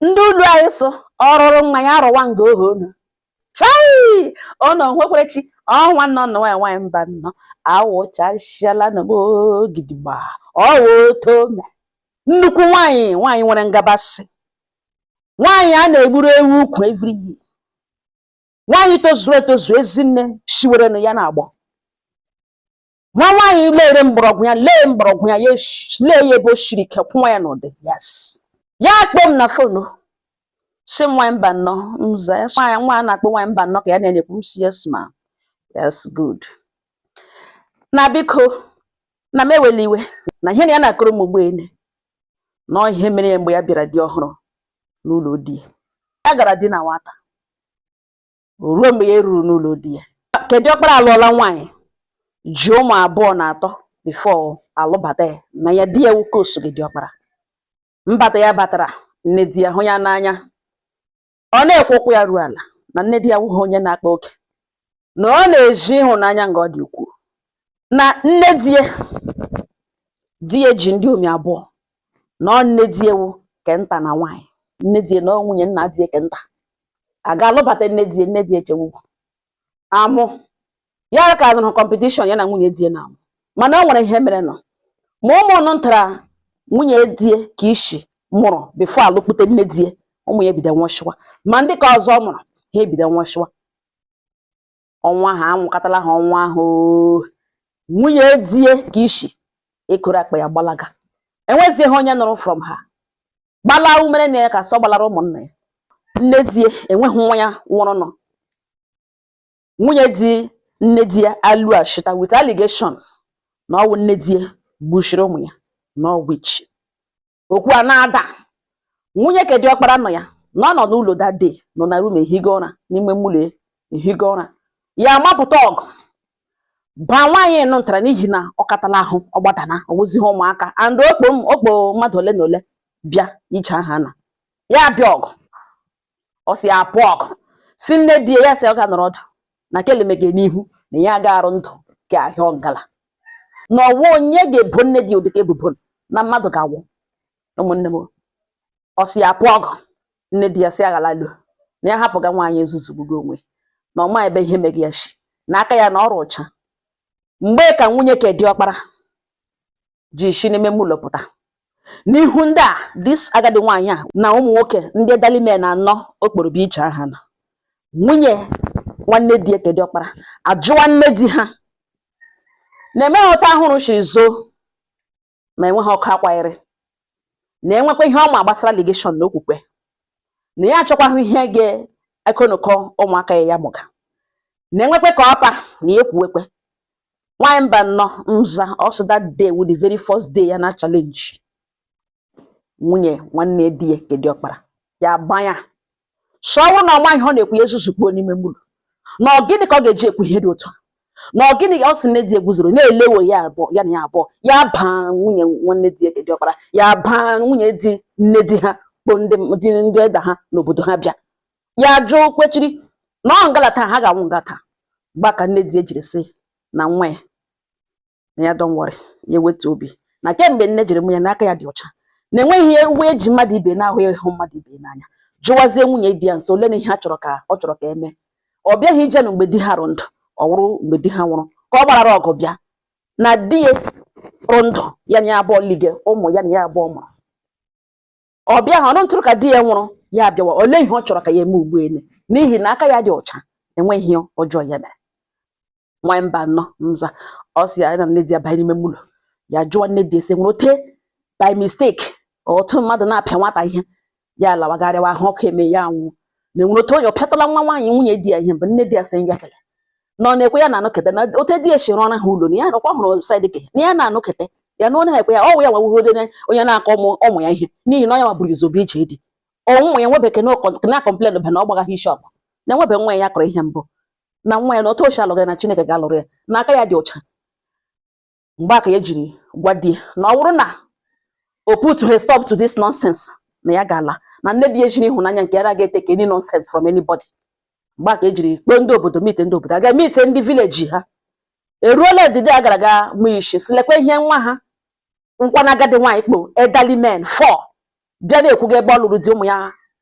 ndị ụlọ anyị sụ ọrụrụ mma ya arụwa nga ohe unu chai ọnọ nwekwere chi ọnwa nọ nọ nwanyị nwanyị mbano awụchasịala n'ogbo gidigba ọwa oto me nnukwu nwanyị nwanyị nwere ngabasị nwanyị a na-egburu ewu ukwu every year nwanyị tozuru etozu ezinne shiwerenụ ya na-agbọ nwa nwaanyị lere mgbọrọgwụ ya lee mgbọrọgwụ ya lee ya ebe o shiri ike kwụwa ya n'ụdị yes ya akpọ m na fonu sị nwaanyị mbano m za ya nwa a na-akpọ nwaanyị mbano ka ya na-ekwu m sị yes ma ya sị good na biko na m ewela iwe na ihe na ya na-akọrọ m ugbu a na ọ ihe mere ya mgbe ya bịara dị ọhụrụ n'ụlọ di ya gara di na nwata ruo mgbe ya ruru n'ụlọ di ya ke di ọkpara alụọla nwaanyị ji ụmụ abụọ na atọ before alụbata ya na ya di ya nwoke osote di ọkpara mbata ya batara nne di ya hụ ya n'anya ọ na-ekwe ụkwụ ya ruo ala na nne di ya awụghị onye na-akpa oke na ọ na-ezi ịhụnanya nga ọ dị ukwuu na nne di ya di ya ji ndiomi abụọ na ọ nne di ya wụ ke nta na nwaanyị nne di ya na ọ nwunye nna di ya ke nta a ga-alụbata nne di nne di echewugwu amụ ya ka nọrọ competition ya na nwunye di na-amụ mana o nwere ihe mere nụ ma ụmụnụ ntara nwunye di ke ishi mụrụ before alụkpute nne di ụmụ ya ebido nwụchịwa ma ndị ke ọzọ mụrụ ha ebido nwụchịwa ọnwụ ahụ anwụkatala ha ọnwụ ahụ nwunye die ke ishi ekoro akpa ya gbalaga enwezighị onye nụrụ from ha gbalaa o mere na ya ka sọ gbalara ụmụnna ya nne die enweghị nwa ya nwụrụ nụ nwunye di nne di ya alọshita with allegation na ọwụ nne di ya gbushiri ụmụ ya na ọwụ witch okwu a na-ada nwunye ke di ọkpara nọ ya na ọ nọ n'ụlọ that day nọ na room ehigo ụra n'ime ụlọ ehigo ụra ya amapụta ọgụ baa nwaanyị nụ ntara n'ihi na ọ katala ahụ ọ gbadana ọ wụzighị ụmụaka and ọ kpọ m ọ kpọ mmadụ ole na ole bịa ije aha na ya bịa ọgụ ọ sị ya apụ ọgụ sị nne di ya sị ọ ga nọrọ ọdụ na kelemege n'ihu na ya ga-arụ ndụ ka ahịa ọngala na ọwụ onye ga-ebo nne di ụdịka ebubo na mmadụ ga-awụ ụmụnne m ọ sị ya apụ ọgụ nne di ya sị aghala lu na ya hapụga nwaanyị ezuzu gbugo onwe na ọ ma ebe ihe mege ya shi na aka ya na ọ rị ụcha mgbe ka nwunye ke di ọkpara ji isi n'ime ime ụlọ pụta n'ihu ndị a this agadi nwaanyị a na ụmụ nwoke ndị elderly men anọ ọ kpọrọ bịa iche aha na nwunye nwanne di ya nke diọkpara ajụwa nne di ha na-emeghị ụta ahụrụ chi zoo ma enweghị ọkụ akwanyere na enwekwa ihe ọ ma gbasara allegation na okwukwe na ya achọkwaghị ihe ga-ekonụkọ ụmụaka ya ya mụga na-enwekwe ka ọpa na ya ekwuwekwe nwaanyị Mbano nza ọ sị that day wụ the very first day ya na challenge nwunye nwanne di ya nke diọkpara ya agwa ya sị ọ wụrụ na nwaanyị ọ na-ekwu ya ezuzukpuo n'ime ime ụlọ na ọ gịnị ka ọ ga-eji ekwu ihe dị otu ahụ na ọ gịnị ọ sị nne di ya guzoro na-ele wo ya abụọ ya na ya abụọ ya bụ nwunye nwanne di ya nke diọkpara ya bụ nwunye di nne di ha kpọọ ndị di ndị elder ha n'obodo ha bịa ya jụ kwechiri na ọ ngala taa ha ga-anwụ nga taa mgbe ka nne di ya jiri sị na nwa ya na ya don't worry ya ewetu obi na kemgbe nne jiri mụ ya na aka ya dị ọcha na enweghị ihe uwe eji mmadụ ibe na-ahụ ya ịhụ mmadụ ibe n'anya jụwazie nwunye di ya sị olee ihe ọ chọrọ ka ọ chọrọ ka emee ọ bịaghị ije na mgbe di ha rụ ndụ ọ wụrụ mgbe di ha nwụrụ ka ọ gbarara ọgụ bịa na di ya rụ ndụ ya na ya abụọ lige ụmụ ya na ya abụọ mụrụ ọ bịa ha ọnụ ntụrụ ka di ya nwụrụ ya abịawa olee ihe ọ chọrọ ka ya eme ugbu ele n'ihi na aka ya dị ọcha enweghị ihe ọjọọ ya mere nwanyị Mbano nza ọ sị ya na nne di ya banye n'ime ime ụlọ ya jụọ nne di ya sị e nwere ote by mistake otu mmadụ na-apịa nwata ihe ya alawa ga rịawa ahụ ọkụ emee ya anwụọ na enwere otu onye ọ pịatala nwa nwaanyị nwunye di ya ihe mgbe nne di ya sị ya kele na ọ na-ekwe ya na-anọkete na ote di ya si rụọra ha ụlọ na ya rụkwa hụrụ sadike na ya na-anụkete ya na onye ekwe ya ọwụ ya wawuhode onye na-akụ ụmụ ụmụ ya ihe n'ihi na ọ ya wa buru ụzọ bịa ije di ụmụ ya nwebeke na-akọmplen ba na ọ gbaghaghị isi ọkpa na enwebe nwa ya kụrụ ihe mbụ na nwa ya na otu o shi alụghị na Chineke ga-alụrụ ya na aka ya dị ọcha mgbe a ka ya jiri gwa di ya na ọ bụrụ na o putughị stop to this nonsense na ya ga-ala na nne di ya jiri ịhụnanya nke ya ga-etake any nonsense from anybody mgbe a ka ya jiri kpọọ ndị obodo meeting ndị obodo aga meeting ndị village ha eruola D-day a gara aga mụ ishi sị lekwa ihe nwa ha na-ekwu na agadi nwaanyị kpọ elderly men four bịa na-ekwuga ebe ọ lụrụ di ụmụ ya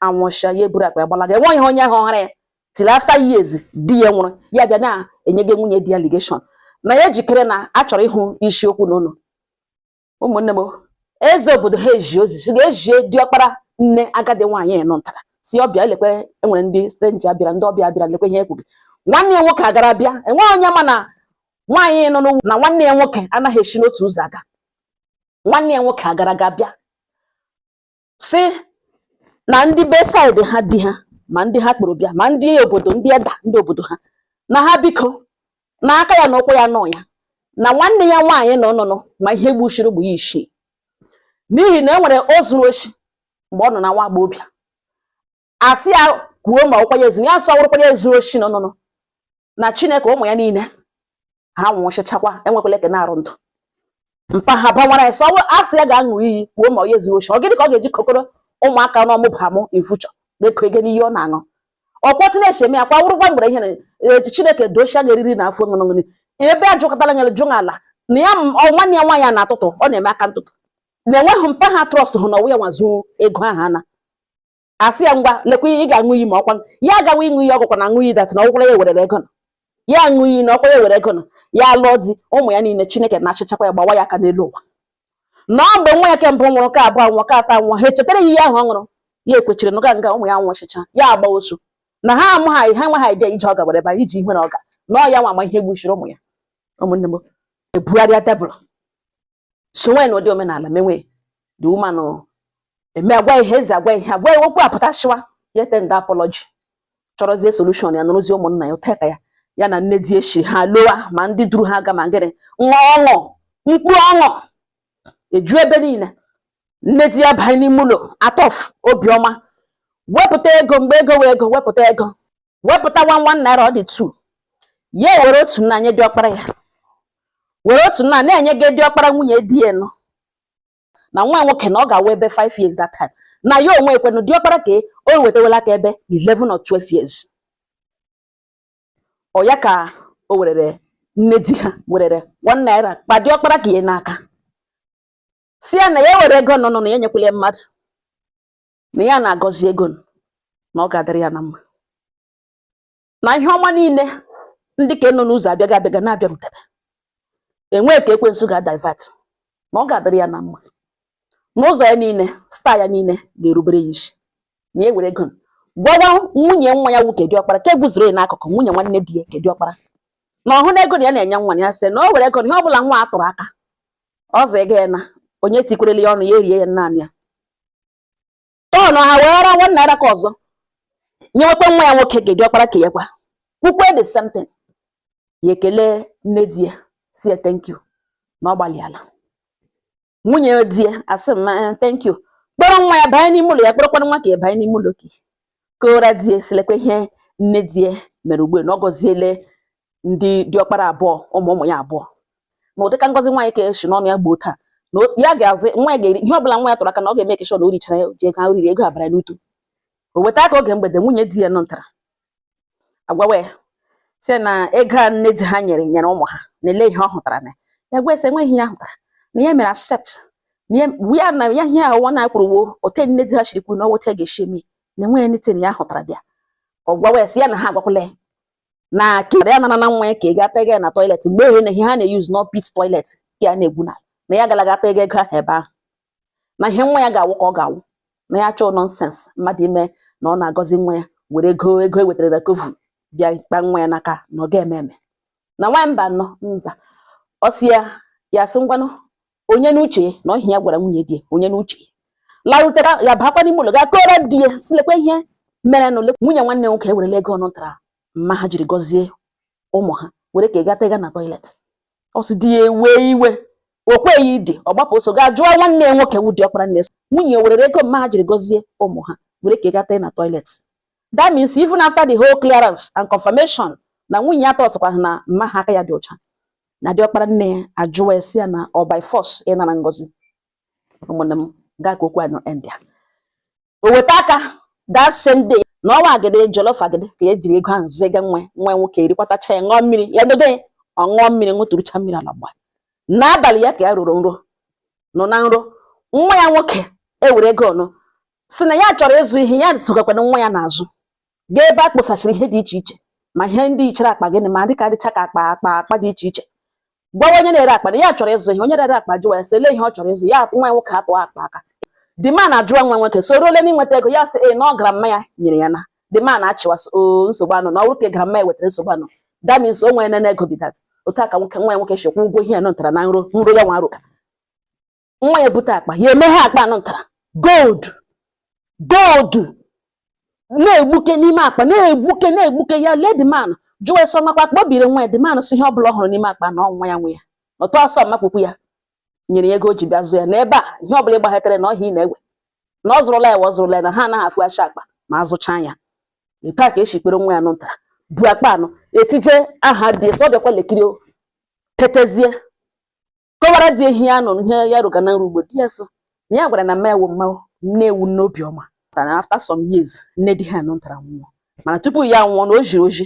anwụcha ya eburu akpa ya gbalaga enweghị onye hụkwara ya till after years di ya nwụrụ ya bịa na-enye gị nwunye di ya allegation na ya ejikere na a chọrọ ịhụ isiokwu n'ụlọ ụmụnne m eze obodo ha ezie ozi sị ga zie diọkpara nne agadi nwaanyị ahụ mụtara sị ọ bịa lekwe enwere ndị stranger bịara ndị ọbịa bịara lekwe ihe ekwuga nwanne ya nwoke agara bịa enweghị onye ma na nwaanyị nọ n'ugwu na nwanne ya nwoke anaghị esi n'otu ụzọ aga nwanne ya nwoke agara aga bịa sị na ndị be side ha di ha ma ndị ha kpọrọ bịa ma ndị obodo ndị elder ndị obodo ha na ha biko na aka ya na ụkwụ ya anọghị ya na nwanne ya nwaanyị na ọnụnụ ma ihe gbuchiri ụmụ ya isii n'ihi na e nwere o zuru oshi mgbe ọ nọ na nwa agbọghọbịa a sị ya kwuo ma ọ wụkwa ya ezu ya nsọ wụrụkwa ya ezuru oshi nọ nụnụ na chineke ụmụ ya niile ha nwụchịchakwa enwekwala ke na-adị ndụ mpa ha bawara ya sọ a sị ya ga-aṅụ iyi kwuo ma onye zuru oshi ọ gịnị ka ọ ga-eji kpọkọrọ ụmụaka n'ọmụba mụ in future na-eko ego n'ihe ọ na-aṅụ ọkwọ chineke eme ya kwa wụrụkwa mgbere ihe na e, chineke dochia ga eriri na afọ ṅụṅụṅụ ebe a jụkọtara nyere jụ ala na ya nwanne ya nwaanyị na-atụtụ ọ na-eme aka ntụtụ na enweghị mpa ha trust hụ na ọ wụ ya nwa zuo ego ahụ ana a sị ya ngwa lekwa ị ga-aṅụ iyi ma ọkwa ya agawa ịṅụ iyi ọ wụkwa na aṅụ iyi that na ọ wụkwara ya werere ego na ya aṅụ iyi na ọkwa ya were ego na ya lụọ di ụmụ ya niile chineke nachịchakwa ya gbawa ya aka n'elu ụwa na ọ mgbe nwa ya ke mbụ nwụrụ ke abụọ anwụọ ke atọ anwụọ ha echetara ya iyi ahụ ọ ṅụrụ ya ekwechiri na nga ụmụ ya nwụchicha ya agba ọsọ na ha amụ ha ha nwa ha ide ije ọga were ba iji ihu na ọga na ọ ya nwa ma ihe gbuchiri ụmụ ya ụmụnne m ebugharịa tebụl so nwaanyị na ụdị omenala menwe the woman eme agwa ihe eze agwa ihe agwa ihe okwu apụtashịwa ya e-tender apology chọrọzie solution ya nụrụzie ụmụnna ya ụteka ya ya na nne di echi ha lọwa ma ndị duru ha gaa ma ngịrị nwa ọṅụ mkpu ọṅụ eju ebe niile nne di ya banye n'ime ụlọ out of obiọma wepụta ego mgbe ego wụ ego wepụta ego wepụta one one naira ọ dị two ya were otu nna nye diọkpara ya were otu nna nye diọkpara nwunye di ya nọ na nwa nwoke na ọ ga-awa ebe 5 years that time na ya onwe ekwenu diọkpara ka o wetawela aka ebe 11 or 12 years ọ ya ka o werere nne di ha werere one naira kpa diọkpara ke ya n'aka sị ya na ya were ego nọ nọ na ya nyekwele mmadụ na ya na-agọzi ego na ọ ga-adịrị ya na mma na ihe ọma niile ndị ka nọ n'ụzọ abịaga abịaga na-abịarutere enweghị ka ekwensu ga-adivert na ọ ga-adịrị ya na mma n'ụzọ ya niile star ya niile ga-erubere ya isi na ya were ego gwawa nwunye nwa ya nwoke diọkpara ke eguzoro ya n'akụkụ nwunye nwanne di ya ke diọkpara na ọ hụna ego na ya na-enye nwa ya sị na o were ego na ihe ọ bụla nwa a tụrụ aka ọzọ ego ya na onye tikwerele ya ọnụ ya erie ya naanị ya turnụa weere one naira ke ọzọ nyewekwa nwa ya nwoke ke diọkpara ke ya kwa kwukwe the same thing ya ekele nne di ya sị ya thank you na ọ gbalịala nwunye di ya asị m eh, thank you kpọrọ nwa ya banye n'ime ụlọ ya kpọrọkwana nwa ke ya banye n'ime ụlọ ka kọọra di ya sị lekwa ihe nne di ya mere ugbu na ọ gọziele ndị diọkpara abụọ ụmụ ụmụ ya abụọ na ụdịka ngọzi nwaanyị ka si n'ọnụ ya gbọta na ya ga-azụ nwa ya ga-eri ihe ọbụla nwa ya tụrụ aka na ọ ga-emake sure na o richara ya ji ego ha riri ego abara n'utu o weta aka oge mgbede nwunye di ya nọ ntara agwawa ya sị na ego a nne di ha nyere nyere ụmụ ha na elee ihe ọ hụtara na ya gwa sị enweghị ihe ya hụtara na ya mere accept na ya na ya ihe ahụ na kwuru wụ otu nne di ha shiri kwuru na ọ wụ otu a ga-esi eme na enweghị anything ya hụtara dị ya ọ gwawa ya sị ya na ha agwakwala ya na kere ya nana na nwa ya ka ị ga-ata ego ya na toilet mgbe ehe na ihe ha na-use na pit toilet ka ya na-egwu na na ya galaga ata ego ego ahụ ebe ahụ na ihe nwa ya ga-awụ ka ọ ga-awụ na ya achọọ nonsense mmadụ ime na ọ na-agọzi nwa ya were ego ego e wetara na coven bịa kpa nwa ya n'aka na ọ ga-eme eme na nwa mba nọ nza ọ sị ya ya sị ngwanụ onye n'uche na ọ ihe ya gwara nwunye di ya onye n'uche larutera ya bakwa n'ime ụlọ gaa kọọrọ di ya sị lekwa ihe mere na ole nwunye nwanne nwoke ewerela ego ọnụ tara mma ha jiri gọzie ụmụ ha were ka ị gata ịga na toilet ọ sị di ya ewee iwe o kweghị idi ọ gbapụ ọsọ gaa jụọ nwanne ya nwoke wụ diọkpara nne sị ọ nwunye ya werere ego mma ha jiri gọzie ụmụ ha were kegata ya na toilet that means even after the whole clearance and confirmation na nwunye ya tọsịkwa ha na mma ha aka ya dị ọcha na diọkpara nne ya ajụwa ya sị ya na ọ by force ịnara ngọzi ụmụnne m nga a ka okwu anyị nọ end ya o weta aka that same day na ọ wụ agidi jollof agidi ka ya jiri ego ahụ zega nwa nwa nwoke erikwatacha ya ṅụọ mmiri ya dodo ya ọ ṅụọ mmiri ṅụtụrụcha mmiri ala gba n'abalị ya ka ya rọrọ nrọ nọ na nrọ nwa ya nwoke ewere ego ọnụ sị na ya chọrọ ịzụ ihe ya sogakwana nwa ya n'azụ gaa ebe a kposasịrị ihe dị iche iche ma ihe ndị yichara akpa gịnị ma dịka dịcha ka akpa akpa akpa dị iche iche gwawa onye na-ere akpa na ya chọrọ ịzụ ihe onye na-ere akpa jụwa ya sị elee ihe ọ chọrọ ịzụ ya nwa ya nwoke atụọ akpa aka the man ajụwa nwa nwoke sị olee n'inweta ego ya sị ee na ọ grandma ya nyere ya na the man achịwa sị o nsogbu anọọ na ọ bụrụ ka grandma ya wetara nsogbu anọọ that means o nwere nene ego be that otu a ka nwoke nwa ya nwoke si kwụ ụgwọ ihe ya nọtara na nrọ nrọ ya na-arọ nwa ya bute akpa ya emeghe akpa anụ ntara gold gold na-egbuke n'ime akpa na-egbuke na-egbuke ya lee the man jụwa sị ọ makwa akpa o biri nwa ya the man sị ihe ọ bụla ọ hụrụ n'ime akpa na ọ nwa ya nwe ya ọtọ ọsọ mma ukwu ya nyere ya ego o ji bịa zụ ya n'ebe a ihe ọ bụla ị gbaghetere na ọ ihe ị na-ewe na ọ zụrụla ya wa ọ zụrụla ya na ha anaghị afụghachi akpa ma azụcha ya etu a ka e si kpọrọ nwa ya anụ ntara bu akpa anụ etije aha dị sọ bịakwa lekiri o, tetezie kọwara di ehi ya nụrụ ihe ya rụga na-arụ ugbo di ya so na ya gwara na mma ya wụ mma wụ nne wụ nne obiọma na after some years nne di ha nụ tara nwụọ mana tupu ya nwụọ na o jiri ọjị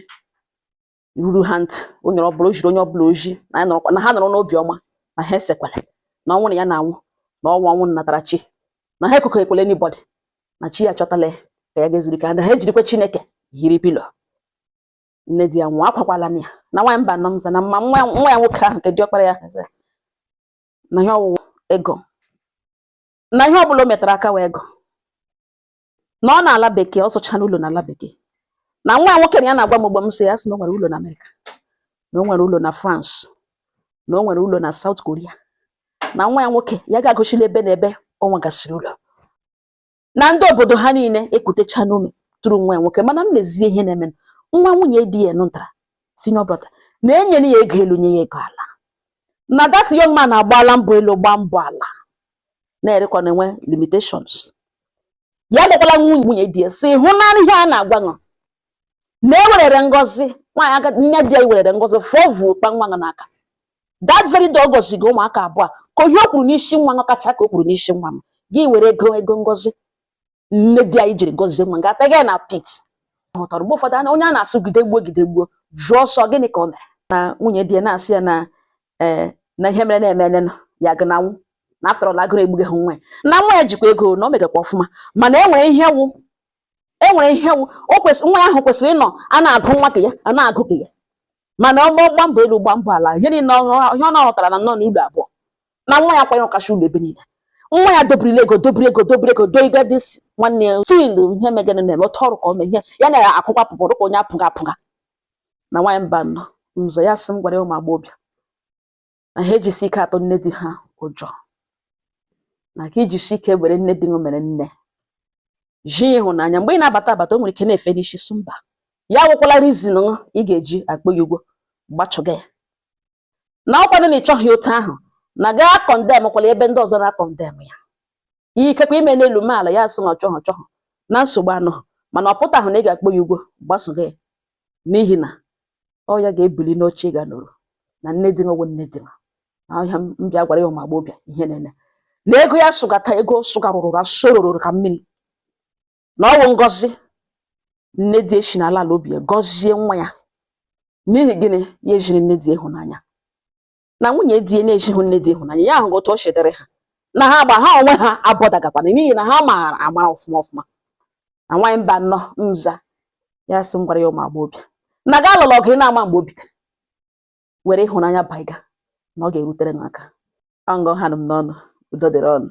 ruru ha ntị o nyere ọbụla o jiri onye ọbụla ọjị na ya nọrọkwa- na ha nọrọ n'obi ọma na ha esekwara na ọnwụ na ya na-anwụ na ọnwụ ọnwụ natara chi na ha ekụkọ ekwele anybody na chi ya chọtala ya ka ya gaa zuru ike ha na ha ejirikwa chineke hiri pilo nne di ya nwụọ akwakwala m ya na nwaanyị mbano m za na mma nwa nwa ya nwoke ahụ nke diọkpara ya eze na ihe ọ wụ wụ ego na ihe ọbụla o metara aka wụ ego na ọ nọ ala bekee ọ zụchara ụlọ n'ala bekee na nwa ya nwoke na ya na-agwa m ugbo m sị ya sị na o nwere ụlọ na america na o nwere ụlọ na france na o nwere ụlọ na south korea na nwa ya nwoke ya ga-agụchila ebe na ebe ọ nwegasịrị ụlọ na ndị obodo ha niile ekutecha n'ume tụrụ nwa ya nwoke mana m lezie ihe na-eme nwa nwunye di ya nụtara senior brother na-enyere ya ego elu nye ya ego ala na that young man agbaala mbọ elu gbaa mbọ ala na-erekwa na-enwe limitations ya gbakwala nwunye nwunye di ya sị hụ na ihe a na-agwa ṅụ na ewerere ngozi nwaanyị aga nne di ya i werere ngozi fụọ vuo kpa nwa ṅụ n'aka that very day ọ gọziga ụmụaka abụọ ka ihe o kwuru n'isi nwa nwa kacha ka o kwuru n'isi nwa m gị were ego ego ngozi nne di anyị jiri gọzie nwa ga-ata gị na pit hụtara mgbe ụfọdụ anya onye a na-asị jide gbuo jide gbuo jụọ ọ sị gịnị ka o mere na nwunye di ya na-asị ya na ee na ihe mere na-eme emenụ ya gị na nwụ na after all agụụ egbughị ha nwa ya na nwa ya jikwa ego na o megakwa ọfụma mana e nwere ihe wụ e nwere ihe wụ- o kwesịrị nwa ahụ kwesịrị ịnọ a na-agụ nwa ka ya a na-agụ ka ya mana ọ gbọ- gbaa mbọ elu gbaa mbọ ala ihe niile ọ- ihe ọ na-arụtara na-anọ n'ụlọ abụọ na nwa ya kwanyere ọkacha ụlọ ebe niile nwa ya dobirila ego dobiri ego dobiri ego doiga this nwanne ya still ihe megana na-eme otu ọrụ ka o mee ihe ya na-akwụkwa pụpụ dịka onye apụga apụga na nwaanyị mbano m za ya sị m gwara ya ụmụ agbọghọbịa na ha ejisi ike atụ nne di ha ụjọ na ka i jisi ike were nne di mere nne gị hụ ya n'anya mgbe ị na-abata abata o nwere ike na-efe n'isi sị mba ya awụkwala reason ị ga-eji akpọ ya ugwo gbachụga ya na ọkwanụ na ị chọghị otu ahụ na gị akọndemkwala ebe ndị ọzọ na-akọndem ya ihe ikekwe i mee n'elu mee ala ya asị na ọ chọghọ chọghọ na nsogbu anọghị mana ọ pụtaghị na ị ga-akpọ ya ugwo gbasoga ya n'ihi na ọ ya ga-ebili n'oche ị gaa nọrọ na nne di nwe nne di ahịa m bịa gwara ya ụmụ agbọghọbịa ihe na-eme na ego ya sụgata ego sụgarụrụ na sorororo ka mmiri na ọ wụ ngozi nne di esi n'ala ala obi ya gọzie nwa ya n'ihi gịnị ya ejiri nne di ịhụnanya na nwunye di ya na-ezighị nne di ịhụnanya ya ahụghị otu o si dịrị ha na ha agba ha onwe ha abọdagakwana n'ihi na ha maara amara ọfụma ọfụma na nwaanyị mba nnọ m za ya sị m gwara ya ụmụ agbọghọbịa na ga alụla ọgụ ị na-ama mgbe o bitere were ịhụnanya baiga na ọ ga-erutere n'aka ọ nga ọ ha nụ m n'ọnụ udo dịrị ụnụ